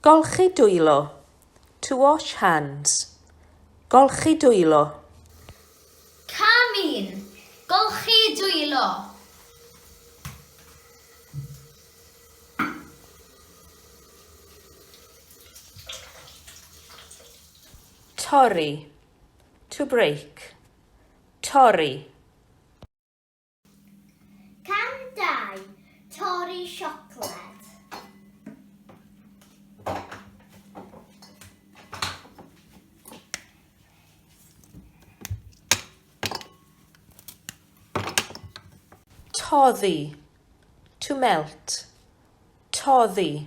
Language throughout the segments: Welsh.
Golchi dwylo, to wash hands. Golchi dwylo. Cam 1. Golchi dwylo. Torri, to break. Torri. Cam 2. Torri siocled. Toddi. To melt. Toddi.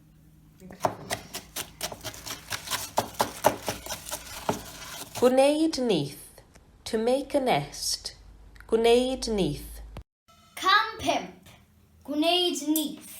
Gwneud nyth, to make a nest, gwneud nyth. Cam 5, gwneud nyth.